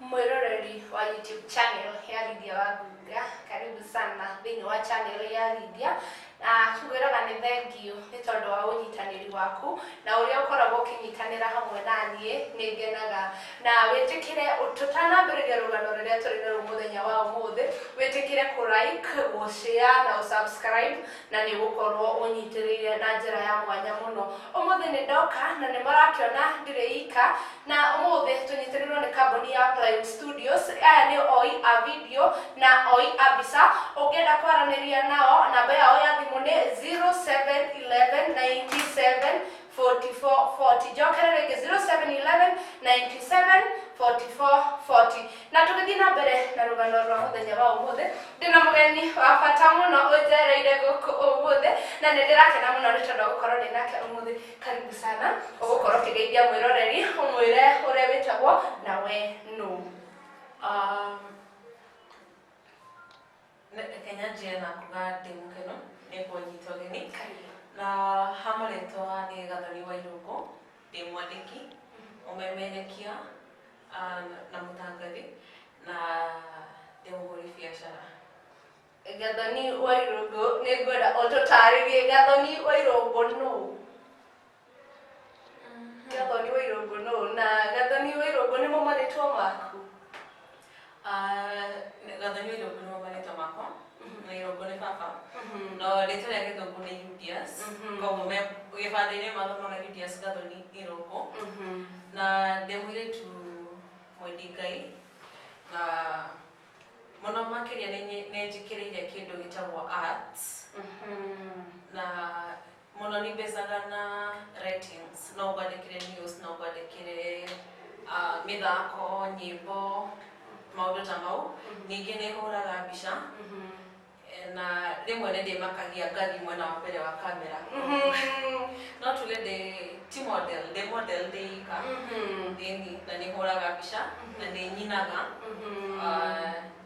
mwĩroreri wa YouTube channel ya Lydia wa Ngunga karibu sana thĩinĩ wa channel ya Lydia na tũgwĩraga nĩ thengiũ nĩ tondũ wa ũnyitanĩri waku na ũrĩa ũkoragwo ũkĩnyitanĩra hamwe na niĩ nĩ ngenaga na wĩtĩkĩre tũtanambĩrĩria rũgano rũrĩa tũrĩ naruo mũthenya wa ũmũthĩ wĩtĩkĩre kũ like gũ share na gũ subscribe na nĩ gũkorwo ũnyitĩrĩire na njĩra ya mwanya mũno. Ũmũthĩ nĩ ndoka na nĩ marakĩona ndirĩ ika, na ũmũthĩ tũnyitĩrĩirwo nĩ kambuni ya Plywood Studios. Aya nĩ oi a video na oi a mbica. Ũngĩenda kwaranĩria nao, namba yao ya thimũ nĩ 0711 97 44 40 njokere rĩngĩ 0711 97 44 40 na tũgĩthiĩ na mbere na rũgano rwa mũthenya wa ũmũthĩ ndĩna mũgeni wa bata mũno ũnjereire gũkũ ũmũthĩ na nĩ ndĩrakena mũno nĩ tondũ gũkorwo ndĩ nake ũmũthĩ karibu sana ũgũkorwo ũkĩgeithia mwĩroreri ũmwĩre ũrĩa wĩtagwo na we nũ um, Reke nyanjie na kuga ndĩ mũkenu nĩ kũnyita ũgeni na ha marĩtwa nĩ Gathoni Wairũngũ, ndĩ mwandĩki, mũmemerekia ah, na mũtangathi na ndĩ mũhũri biacara. Gathoni Wairũngũ, nĩ ngwenda ũtũtarĩrie Gathoni Wairũngũ nũ? Gathoni wa Irungu nũ na Gathoni wa Irungu nĩmo marĩtwa maku? Gathoni wa Irungu nĩmo marĩtwa makwa na Irungu nĩ baba no rĩtwa rĩa gĩthũngũ nĩ Julius koguo me gĩbandĩ-inĩ mathomaga Julius Gathoni Irungu na ndĩ mũirĩtu mwendi Ngai na mũno makĩria nĩ njĩkĩrĩire kĩndũ gĩtagwo arts na Mũno nĩ mbecaga na ratings, no ngwandĩkĩre news, no ngwandĩkĩre ah, mĩthako, nyĩmbo, maũndũ ta mau. Ningĩ nĩ hũraga mbica eh, na rĩmwe nĩ ndĩmakagia ngathiĩ mwena wa mbere wa kamera. No tuge ndĩ ti model, ndĩ model ndĩ ika. Ĩni, na nĩ hũraga mbica na nĩ nyinaga. Ah,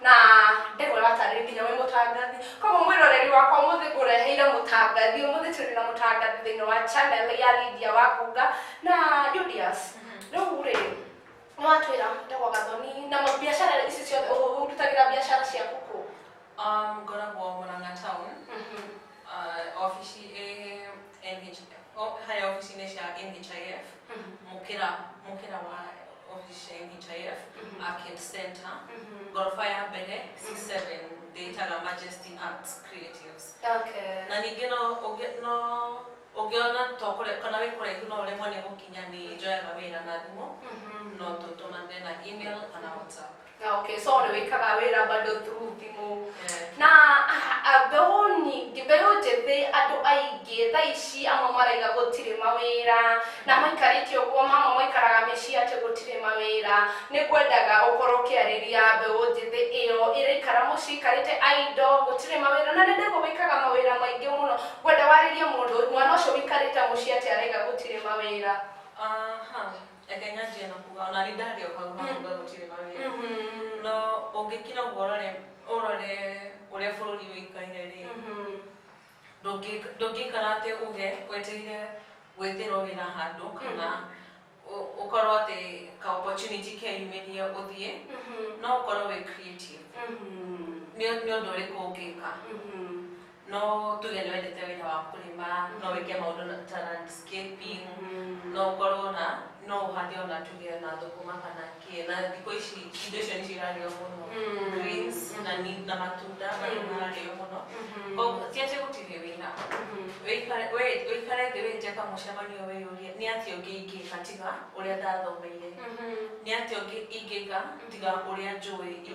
na ndegwa ĩratarĩria nginya wĩ mũtangathi koguo mwĩroreri wakwa mũthĩ ngũreheire mũtangathi ũmũthĩ tũrĩ na mũtangathi thĩinĩ wa channel ya Lydia wa Kunga na Julius rĩu rĩ nĩ watwĩra ndegwa gathoni na ma- biacara ici ciothe ũrutagĩra biacara ciaku kũ Um, ngoragwo Murang'a town ofici harĩa ofici-inĩ cia NHIF mũkĩra mũkĩra wa ofici cia NHIF Arcade Center ngoroba ya mbere C7 ndĩtaga Majesty Arts Creatives Okay. na ningĩ no ũngĩ- no ũngĩona to kũrĩ- kana wĩ kũraihu no ũremwo nĩ gũkinya nĩ njoyaga wĩra na thimũ no tũtũmane na email kana whatsapp Na okay, so nĩ wĩkaga wĩra bado through thimũ na ah, ah, mbeũ nyingĩ mbeũ njĩthĩ andũ aingĩ thaa ici amwe maraiga gũtirĩ mawĩra na maikarĩte ũguo mamwe maikaraga mĩciĩ atĩ gũtirĩ mawĩra nĩ ngwendaga ũkorwo ũkĩarĩria mbeũ njĩthĩ ĩyo ĩraikara mũciĩ ikarĩte aindo gũtirĩ mawĩra na nĩndĩgo wĩkaga mawĩra maingĩ mũno ngwenda warĩrie mũndũ mwana ũcio wĩkarĩte mũciĩ atĩ araiga gũtirĩ mawĩra Aha. Reke nyanjie na kuga ona nĩ ndarĩ o hau na kuga gũtirĩ mawĩra no ũngĩkira ũguo ũrore ũrore ũrĩa bũrũri ũikaire rĩ ndũngĩ- ndũngĩikara atĩ uge wetereire gwĩtĩrwo wĩra handũ kana ũ- ũkorwo atĩ ka opportunity keyumĩrie ũthiĩ no ũkorwo wĩ creative nĩ nĩ ũndũ ũrĩkũ ũngĩka No tuge nĩ wendete wĩra wa kũrĩma, no wĩke maũndũ na- ta landscaping, no ũkorwo na no ũhande ona tuge na thũkũma kana kĩ na thikũ ici indo icio nĩcio irarĩo mũno Mm. greens na ni- na matunda Mm. nĩ mararĩo mũno Mhm. Koguo, ti atĩ gũtirĩ wĩra Mhm. Wĩikare wĩ- wĩikare thĩ wĩte kamũcemanio wĩyũrie nĩ atĩa ũngĩ ingĩka tiga ũrĩa ndathomeire Mhm. nĩ atĩa ũngĩ ingĩka tiga ũrĩa njũĩ ingĩ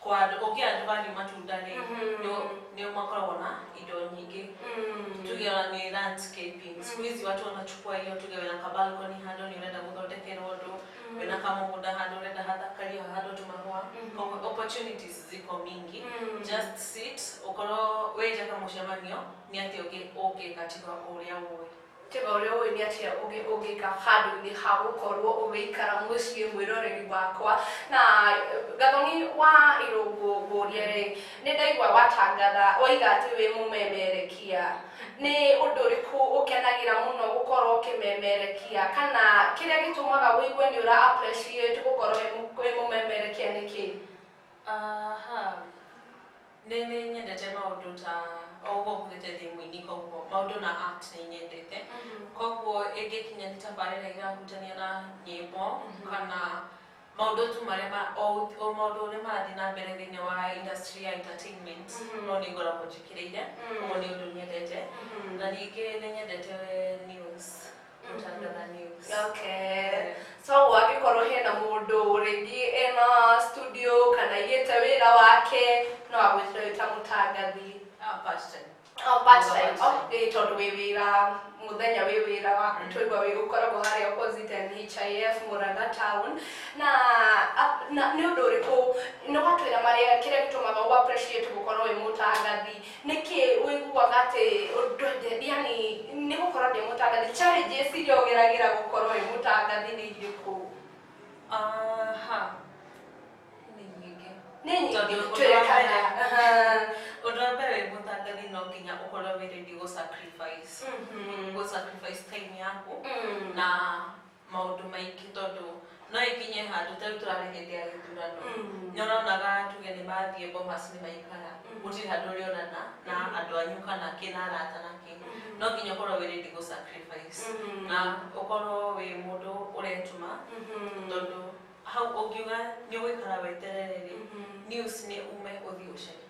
kwa andũ ũngĩ andũ mathiĩ matunda-rĩ Mhm. nĩ nĩ makoragwo na indo nyingĩ Mm. tuge ona nĩ landscaping siku hizi watu wanachukua hiyo tuge wĩna ka balcony handũ nĩ ũrenda gũthondekerwo ũndũ wĩna kamũgũnda handũ ũrenda hathakario hahandwo tũmahũa Mhm. koguo opportunities ziko mingi Mm. just sit ũkorwo wĩnja kamũcemanio nĩ atĩa ũngĩ ũngĩka tiga ũrĩa ũĩ Tega ũrĩa ũĩ nĩ atĩa ũngĩ ũngĩka handũ-inĩ ha gũkorwo ũgĩikara mũciĩ mwĩroreri wakwa. Na Gathoni wa Irũngũ ngũrie rĩ, nĩ ndaigua watangatha waiga atĩ wĩ mũmemerekia. Nĩ ũndũ ũrĩkũ ũkenagĩra mũno gũkorwo ũkĩmemerekia kana kĩrĩa gĩtũmaga wĩigue nĩ ũra appreciate gũkorwo wĩ mũmemerekia nĩ kĩĩ? Aha. Nĩ nĩ nyendete maũndũ ta o ũguo hũthĩte thimũ-inĩ koguo maũndũ na art nĩ nyendete koguo ĩngĩkinya nĩ tabarĩra irahutania na nyĩmbo kana maũndũ tu marĩa ma- o gũ- o maũndũ ũrĩa marathiĩ na mbere thĩinĩ wa industry ya entertainment no nĩ ngoragwo njĩkĩrĩire ũguo nĩ ũndũ nyendete na ningĩ nĩ nyendete news Okay. so angĩkorwo hena mũndũ rĩngĩ ena studio kana igĩte wĩra wake no agwĩtire wĩ ta mũtangathi Ah, part time. Oh, part time. Part Oh, time. ĩĩ tondũ wĩ wĩra mũthenya wĩ wĩra waku twaigua wĩ ũkoragwo harĩa opposite NHIF Murang'a town na a- na nĩ ũndũ ũrĩkũ nĩ watwĩra marĩa kĩrĩa gĩtũmaga ũ appreciate gũkorwo wĩ mũtangathi nĩkĩ wĩiguaga atĩ ndwenjete yani nĩ gũkorwo ndĩ mũtangathi challenges iria ũgeragĩra gũkorwo wĩ mũtangathi nĩ irĩkũ aha nĩ nyingĩ nĩ nyingĩ Tondũ ũndũ wa twĩre mbere- kana Aha. ũndũ wa mbere wĩ mũtangathi no nginya ũkorwo wĩ ready gũ sacrifice Mhm. gũ sacrifice time yaku Mm. na maũndũ maingĩ tondũ no ĩkinye handũ tarĩu tũrarĩ hĩndĩ ya gĩthurano Mm. nĩ ũronaga tuge nĩ mathiĩ bomas nĩ maikara Mm. gũtirĩ handũ ũrĩonana na Mm. andũ anyu kana kĩna arata na kĩ no nginya ũkorwo wĩ ready gũ sacrifice Mhm. na ũkorwo wĩ mũndũ ũretuma Mhm. tondũ hau ũngiuga nĩ ũgũikara weterere rĩ Mhm. news nĩ ume ũthiĩ ũcarie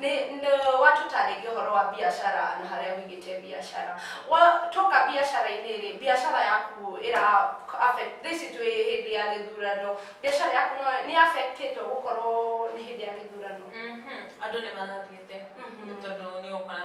Nĩ nĩ- watũtarĩria ũhoro wa biacara na harĩa wigĩte biacara watoka biacara-inĩ rĩ biacara yaku ĩra affect- thaa ici twĩ hĩndĩ ya gĩthurano biacara yaku no nĩ affectĩtwo gũkorwo nĩ hĩndĩ ya gĩthurano Mhm. andũ nĩ marathiĩte Mhm. nĩ tondũ nĩ ũgũkora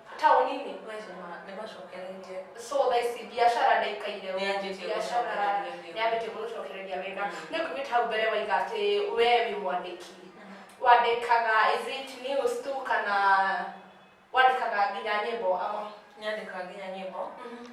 taũni-inĩ no icio nĩma- nĩmacokereirie so thaa ici biacara ndaikaire ũguo, Nĩyambĩtie biacara gũcokereria wĩra. nĩyambĩtie gũcokereria wĩra Mm. nĩ kumĩte hau mbere waiga atĩ we wĩ mwandĩki wandĩkaga is it news tu kana wandĩkaga nginya nyĩmbo ama nyandĩkaga nginya nyĩmbo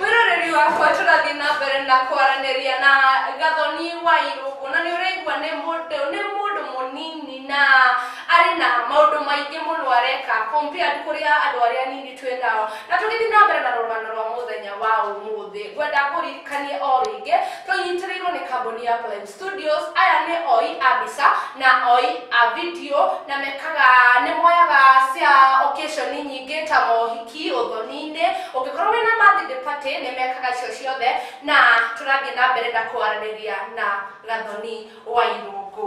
mwiroreri wakwa tũrathiĩ na mbere na kwaranĩria na gathoni wa irũngũ na nĩ ũraigua nĩ mũndũ nĩ mũndũ mũnini na arĩ na maũndũ maingĩ mũno areka compared kũrĩ andũ arĩa nini twĩ nao na tũgĩthiĩ na mbere na rũgano rwa mũthenya wa ũmũthĩ ngwenda kũririkanie o rĩngĩ tũnyitĩrĩirwo nĩ kambuni ya Plebs Studios, aya nĩ oi a mbica na oi a video na mekaga nĩ moyaga cia occasion nyingĩ ta mohiki, ũthoni-inĩ, ũngĩkorwo wĩna birthday party nĩ mekaga icio ciothe na tũrathiĩ na mbere na kwaranĩria na Gathoni wa Irũngũ.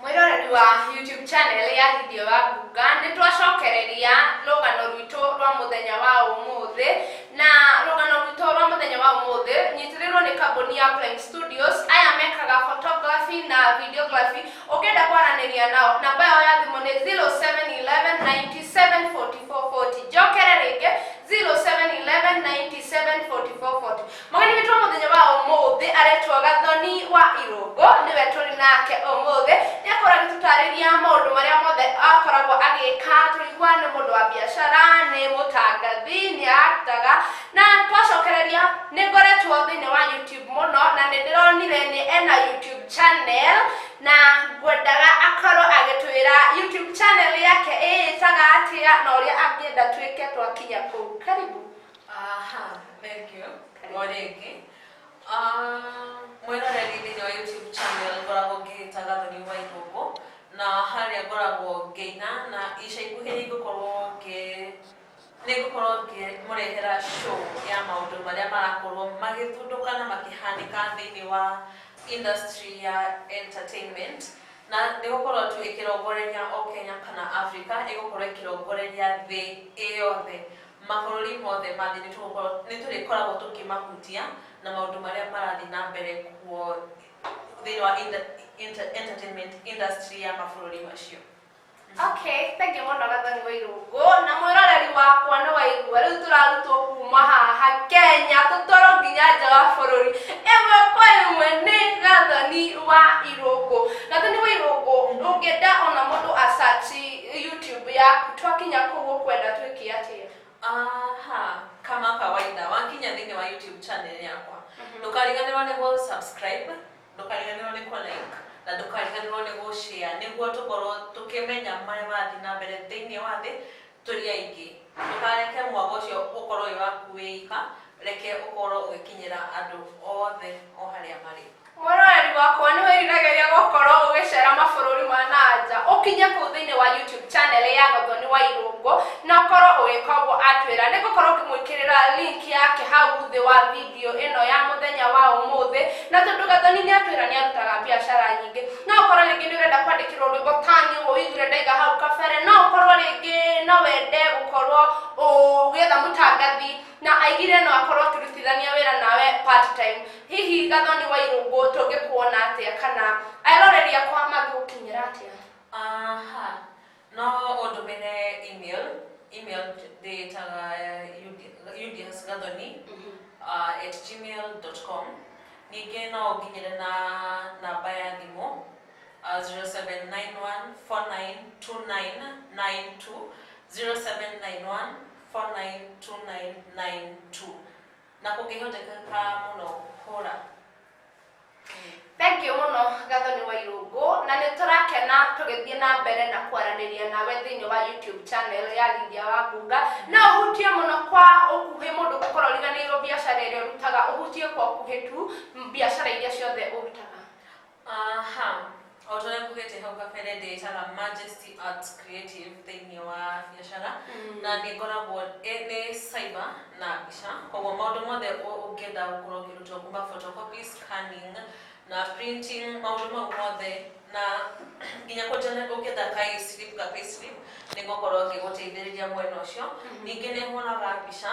mwĩroreri wa youtube channel ya githio wa ngunga nĩ twacokereria rũgano rwitũ rwa mũthenya wa ũmũthĩ na rũgano rwitũ rwa mũthenya wa ũmũthĩ nyitĩrĩrwo nĩ kambuni ya Prime Studios aya mekaga photography na videography ũngĩenda kwaranĩria nao namba yao ya thimũ nĩ 0711974440 njokere rĩngĩ 0711974440 Mũgeni witũ wa mũthenya wa ũmũthĩ aretwo Gathoni wa Irũngũ, nĩwe tũrĩ nake ũmũthĩ. Nĩ akorwo agĩtũtarĩria maũndũ marĩa mothe akoragwo agĩka. Tũrĩigua nĩ mũndũ wa biacara, nĩ mũtangathi, nĩ actaga, na twacokereria nĩ ngoretwo thĩinĩ wa YouTube mũno na nĩ ndĩronire nĩ ena YouTube channel na ngwendaga akorwo agĩtwĩra YouTube channel yake ĩĩtaga atĩa na ũrĩa angĩenda twĩke twakinya kũu. Karibu. Aha, thank you. Karibu. Morĩngĩ. Ah, Mwĩroreri thĩinĩ wa YouTube channel ngoragwo ngĩgĩta Gathoni wa Igũngũ na harĩa ngoragwo ngĩina na ica ikuhĩ nĩngũkorwo ngĩ nĩngũkorwo ngĩmũrehera show ya maũndũ marĩa marakorwo magĩthundũka na makĩhanĩka thĩinĩ wa industry ya entertainment na nĩgũkorwo tu ĩkĩrongoreria o Kenya kana Africa ĩgũkorwo ĩkĩrongoreria thĩ ĩyothe Mabũrũri mothe ma thĩ nĩ tũgũkorwo, nĩ tũrĩkoragwo tũkĩmahutia na maũndũ marĩa marathiĩ na mbere kuo thĩinĩ wa inter, inter, entertainment industry ya mabũrũri macio. Okay, thank you mũno Gathoni wa Irungu na mwĩroreri wakwa nĩ waigua rĩu tũrarutwo kuma haha Kenya tũtwarwo nginya nja wa bũrũri ĩmwe kwa ĩmwe nĩ Gathoni wa Irungu. Gathoni wa Irungu ũngĩenda ona mũndũ a search YouTube yaku twakinya kũu ũkwenda twĩke atĩa aha kama kawaida wakinya thĩinĩ wa youtube channel yakwa ndũkariganĩrwo nĩ gũ subscribe ndũkariganĩrwo nĩ kũ like na ndũkariganĩrwo nĩ gũ share nĩguo tũkorwo tũkĩmenya marĩa marathiĩ na mbere thĩinĩ wa thĩ tũrĩ aingĩ ndũkareke mwaka ũcio ũkorwo wĩ waku wĩ ika reke ũkorwo ũgĩkinyĩra andũ othe o harĩa marĩ Mũroreri wakwa, nĩ wĩriragĩria gũkorũo ũgĩceera mabũrũri ma na nja? Ũkinye kũu thĩinĩ wa YouTube channel ya Gathoni wa Irũngũ na ũkorũo ũgĩka ũguo atwĩra. Nĩ ngũkorũo ngĩmwĩkĩrĩra link yake hau thĩ wa video ĩno ya mũthenya wa ũmũthĩ. Na tondũ Gathoni nĩ atwĩra nĩ arutaga biacara nyingĩ, no ũkorũo rĩngĩ nĩ ũrenda kwandĩkĩrũo rwĩmbo ta niĩ ũguo ũiguire ndaiga hau kabere. No ũkorũo rĩngĩ no wende gũkorũo ũgĩetha mũtangathi na aigire no akorũo akĩrutithania wĩra nawe part time. Hihi Gathoni Wairungu tũngĩkuona atĩa kana eroreri akwa mangĩgũkinyĩra atĩa? Aha. No ũndũmĩre email, email ndĩĩtaga udsgathoni uh, at gmail.com. Ningĩ no ũnginyĩre na namba ya thimũ uh, 0791492992 0791492992. Na kũngĩhotekeka mũno hũra. Thengiũ mũno Gathoni wa Irũngũ, na nĩ tũrakena tũgĩthiĩ na mbere na kwaranĩria nawe thĩinĩ wa YouTube channel ya Lydia wa Ngunga. No ũhutie mũno kwa ũkuhĩ mũndũ gũkorwo ũriganĩirwo biacara ĩrĩa ũrutaga, ũhutie kwa ũkuhĩ tu biacara iria ciothe ũrutaga. Aha, o ta ũrĩa ngugĩte hau kabere ndĩĩtaga Majesty Arts Creative thĩinĩ wa biacara Mm. na nĩ ngoragwo ĩ- nĩ cyber na mbica koguo maũndũ mothe ũ- ũngĩenda gũkorwo ũkĩrutwo kuma photocopy scanning na printing maũndũ mau mothe na nginya kũnjana ũngĩenda kaislip ka payslip nĩ ngũkorwo ngĩgũteithĩrĩria mwena ũcio ningĩ nĩ hũraga mbica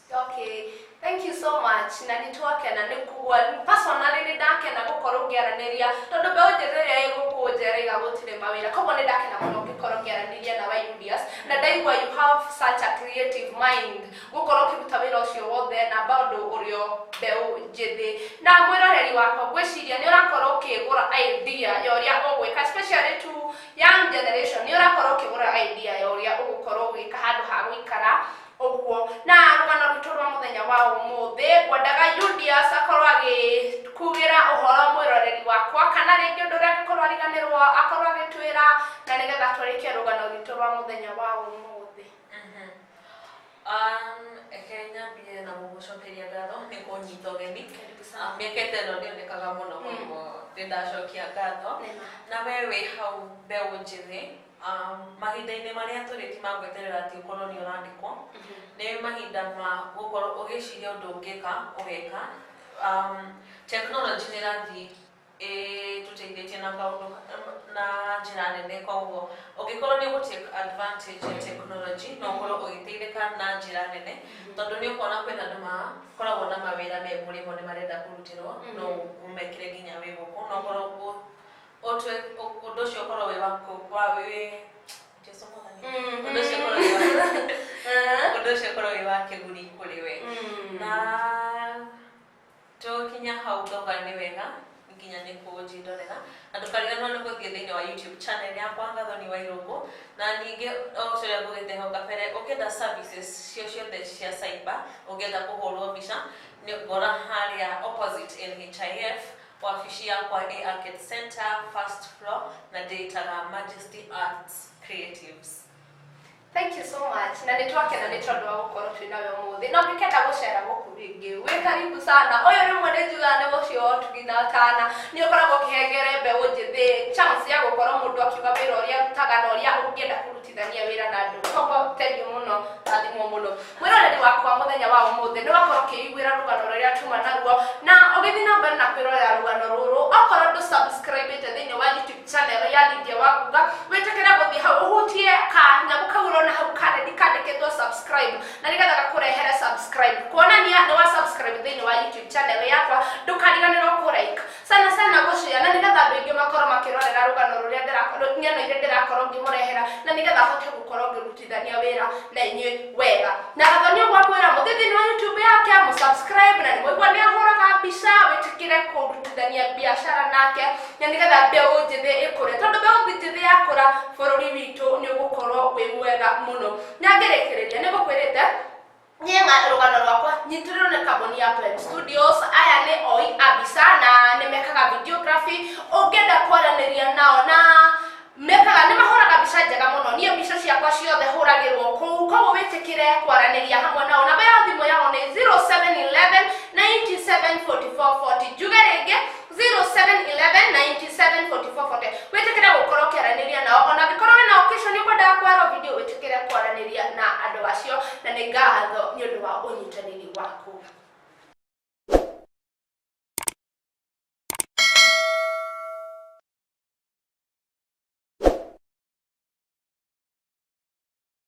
Okay. Thank you so much. Na nĩ twakena nĩ kuwa personally nĩ ndakena gũkorwo ngĩaranĩria tondũ mbeũ njĩthĩ ĩrĩa ĩ gũkũ nja ĩraiga gũtirĩ mawĩra koguo nĩ ndakena mũno ngĩkorwo ngĩaranĩria na Wayudias na ndaigua you have such a creative mind gũkorwo ũkĩruta wĩra ũcio wothe na bado ũrĩ o mbeũ njĩthĩ na mwĩroreri wakwa ngwĩciria nĩ ũrakorwo ũkĩgũra idea ya ũrĩa ũgwĩka especially to young generation nĩ ũrakorwo ũkĩgũra idea ya ũrĩa ũgũkorwo ũgĩka handũ ha gũikara ũguo na rũgano rwitũ rwa mũthenya wa ũmũthĩ ngwendaga Julius akorwo agĩkugĩra ũhoro mwĩroreri wakwa kana rĩngĩ ũndũ ũrĩa angĩkorwo ariganĩrwo akorwo agĩtwĩra na nĩgetha tũrĩkie rũgano rwitũ rwa mũthenya wa ũmũthĩ Mhm. Um, reke nyambie na gũgũcokeria ngatho nĩ kũnyita ũgeni Karibu sana. Ah, mĩaka ĩtano ndĩonekaga mũno Mm. koguo nĩ ndacokia ngatho Nĩma. na we wĩ hau mbeũ njĩthĩ Um, mahinda-inĩ marĩa tũrĩ ti ma gweterera atĩ ũkorwo nĩ ũrandĩkwo nĩ mahinda ma gũkorwo ũgĩciria ũndũ ũngĩka ũgeka um, tekinoronjĩ nĩ ĩrathiĩ ĩtũteithĩtie na kaũndũ na njĩra nene koguo ũngĩkorwo nĩ ũgũtake advantage ya tekinoronjĩ no ũkorwo ũgĩteithĩka na njĩra nene tondũ nĩ ũkuona kwĩna andũ makoragwo na mawĩra me mũrĩmo nĩ marenda kũrutĩrwo no ũmekĩre nginya wĩ gũkũ no ũkorwo Ũtwe ũ- ũndũ ũcio ũkorwo wĩ waku wa wĩ Jesu mwathani. Mm. Ũndũ ũcio ũkorwo wĩ waku. Eh. Ũndũ ũcio ũkorwo wĩ wa kĩguni kũrĩ we. Mm. Na tũkinya hau ngauga nĩ wega nginya nĩ kũnjindorera na ndũkariganĩrwo nĩ gũthiĩ thĩinĩ wa youtube channel yakwa ngathoni wa irũngũ na ningĩ o ũrĩa ngũgĩte hau kabere ũngĩenda services cio ciothe cia cyber ũngĩenda kũhũrwo mbica nĩ ngora harĩa opposite NHIF Wabici yakwa ĩ Arcade Centre, first floor, na ndĩĩtaga Majesty Arts Creatives. Thank you so much. Na nĩ twakena nĩ tondũ wa gũkorwo twĩ nawe ũmũthĩ. Na ũngĩkenda gũcera gũkũ rĩngĩ, wĩ karibu sana. Ũyũ rĩmwe nĩ njugaga nĩ mũciĩ wa ũtugi na ũtana. Nĩ ũkoragwo ũkĩhengere mbeũ njĩthĩ chance ya gũkorwo mũndũ akiuga wĩra ũrĩa arutaga na ũrĩa ũngĩenda kũruta. kũrutithania wĩra na andũ koguo thengiũ mũno rathimwo mũno mwĩroreri wakwa mũthenya wa ũmũthĩ nĩ wakorwo ũkĩiguĩra rũgano rũrĩa tuma naruo na ũgĩthiĩ na mbere na kwĩrorera rũgano rũrũ okorwo ndũ subscribe ĩte thĩinĩ wa youtube channel ya Lydia wa Guga wĩtĩkĩre gũthiĩ hau ũhutie ka nyamũ kau ũrona hau karedi kandĩkĩtwo subscribe na nĩgetha gakũrehere subscribe kuonania nĩ wa subscribe thĩinĩ wa youtube channel yakwa ndũkariganĩrwo kũ like sana sana ngũcirĩa na nĩgetha andũ aingĩ makorwo makĩrorera rũgano rũrĩa ndĩrako- rũ- ng'ano iria ndĩrakorwo ngĩmũrehera na nĩgetha hote gũkorwo ngĩrutithania wĩra na inyuĩ wega na gathoni ũguo akwĩra mũthiĩ thĩinĩ wa youtube yake mũsubscribe na nĩmũigua nĩ ahũraga mbica wĩtĩkĩre kũrutithania biacara nake na nĩgetha mbeũ njĩthĩ ĩkũre tondũ mbeũ njĩthĩ yakũra bũrũri witũ nĩ ũgũkorwo wĩ mwega mũno na ngĩrĩkĩrĩria nĩ gũkwĩrĩte niä ng'a- rũgano rwakwa nyitĩrĩrwo nĩ kambuni ya Prime Studios aya nĩ oi a mbica na nĩ mekaga videography ũngĩenda kwaranĩria nao na mekaga nĩ mahũraga mbica njega mũno niĩ mbica ciakwa ciothe hũragĩrwo kũu koguo wĩtĩkĩre kwaranĩria hamwe nao namba ya thimũ yao nĩ 0711 974440 njuge rĩngĩ 0711974440 wĩtĩkĩre gũkorwo ũkĩaranĩria nao ona angĩkorwo wĩna occasion nĩ ũkwendaga kwarwo video wĩtĩkĩre kwaranĩria na andũ acio na nĩ ngatho nĩ ũndũ wa ũnyitanĩri waku